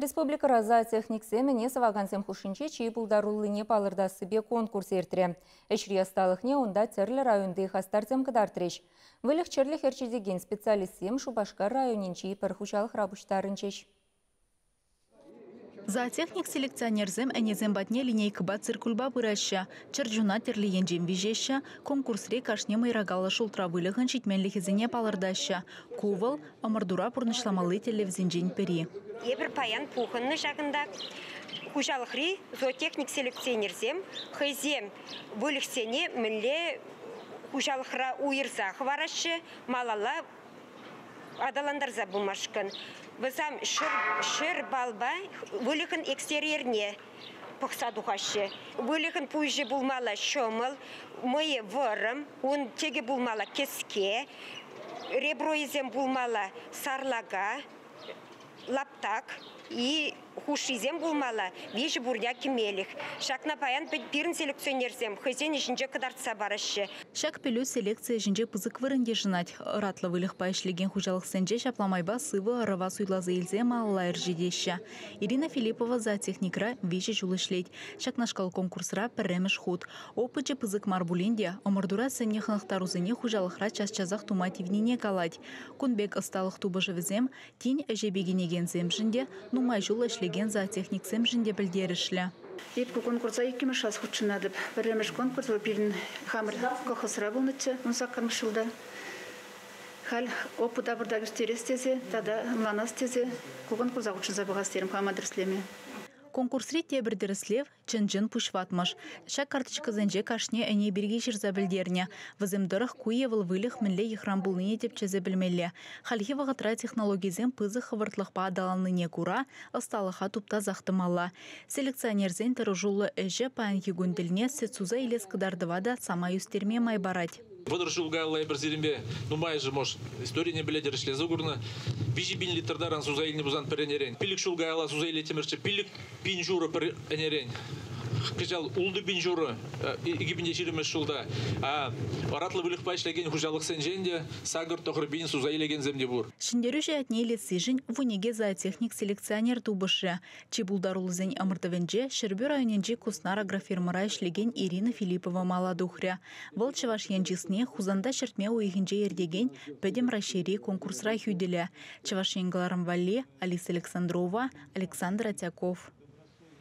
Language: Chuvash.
Республикӑра зоотехниксем ӗне сӑвакансем хушшинче чи пултаруллине палӑртассипе конкурс иртрӗ. Ӗҫри ӑсталӑхне унта тӗрлӗ районти хастарсем кӑтартрӗҫ. Выльӑх-чӗрлӗх ӗрчетекен специалистсем Шупашкар районӗнчи пӗр хуҫалӑхра пуҫтарӑнчӗҫ. Зоотехник-селекционерсем ӗнесем патне линейкӑпа циркульпа пыраҫҫӗ, чӗрчуна тӗрлӗ енчен виҫеҫҫӗ, конкурсри кашни мӑйракаллӑ шултра выльӑхӑн ҫитменлӗхӗсене палӑртаҫҫӗ. Ку вӑл, ӑмӑртура пурнӑҫламалли тӗллевсенчен пӗри. Эпир паян пухӑннӑ ҫакӑнта. Хуҫалӑхри зоотехник селекционерсем хӑйсем выльӑхсене мӗнле хуҫалӑхра уйӑрса хӑвараҫҫӗ малалла аталантарса пымашкӑн. Вӗсем ҫӗр, ҫӗр балпа выльӑхӑн экстерьерне пӑхса тухаҫҫӗ. Выльӑхӑн пуҫӗ пулмалла ҫӑмӑл, мӑйӗ вӑрӑм, ун тӗкӗ пулмалла кӗске, ребройӗсем пулмалла сарлака, лаптак и хушшисем пулмалла виҫӗ пурня кӗмелӗх. Ҫакна паян пирӗн селекционерсем хӑйсен ӗҫӗнче кӑтартса параҫҫӗ. Ҫак пӗлӳ селекци ӗҫӗнче пысӑк вырӑн йышӑнать. Ӑратлӑ выльӑхпа ӗҫлекен хуҫалӑхсенче ҫапла майпа сывӑ ӑрӑва суйласа илсе малалла ӗрчетеҫҫӗ. Ирина Филиппова зоотехникра виҫӗ ҫул ӗҫлет. Ҫакнашкал конкурсра пӗрремӗш хут. Опычӗ пысӑк мар пулин те ӑмӑртура сӗннӗ хӑнӑхтарусене хуҫалӑхра час-часах тума тивнине калать. Кун пек ӑсталӑх тупӑшӑвӗсем тин ӗҫе пикенекенсемшӗн те, нумай ҫул ӗҫлекен зоотехниксемшӗн те пӗлтерӗшлӗ. Эпӗ конкурса иккӗмӗш класс хутшӑнатӑп. Пӗрремӗш конкурс вӑл пирӗн хамӑр колхозра пулнӑччӗ ун саккӑрмӗш ҫулта. Халь опыта пуртах ирттерес тесе тата ӑнланас тесе ку конкурса хутшӑнса пӑхас терӗм хама тӗрӗслеме. Конкурсри тепӗр тӗрӗслев чӑн-чӑн пуҫ ватмӑш. Ҫак карточкӑсенче кашни ӗне пирки ҫырса пӗлтернӗ. Вӗсем тӑрӑх ку е вӑл выльӑх мӗнле йӑхран пулнине тӗпчесе пӗлмелле. Хальхи вӑхӑтра технологисем пысӑк хӑвӑртлӑхпа аталаннине кура ӑсталӑха туптасах тӑмалла. Селекционерсен тӑрӑшуллӑ ӗҫӗ паянхи кун тӗлне сӗт суса илес кӑтартӑва та самай ӳстерме май парать. Вӑтӑр ҫул каялла эпир сирӗнпе нумайӑшӗ, мӑш, историне пӗлетӗр, ӗҫлесе курнӑ. Виҫӗ пин литр таран суса илнӗ пулсан пӗр ӗнерен. Пилӗк ҫул каялла суса илеттӗмӗрччӗ, пилӗк пин ҫурӑ пӗр ӗнерен. Кӑҫал ултӑ пин ҫурӑ, икӗ пин те ҫирӗммӗш ҫулта. Оратлӑ выльӑхпа ӗҫлекен хуҫалӑхсенчен те сакӑр тӑхӑр пин суса илекенсем те пур. Ҫӗнтерӳҫӗ ятне илессишӗн вуникӗ зоотехник-селекционер тупӑшрӗ. Чи пултаруллисен ӑмӑртӑвӗнче Ҫӗрпӳ районӗнчи Куснар агрофирмӑра ӗҫлекен Ирина Филиппова мала тухрӗ. Вӑл Чӑваш Ен чысне Хусанта ҫӗртме уйӑхӗнче иртекен Пӗтӗм Раҫҫейри конкурсра хӳтӗлӗ. Чӑваш Ен кӑларӑм валли Алиса Александрова, Александр Атяков.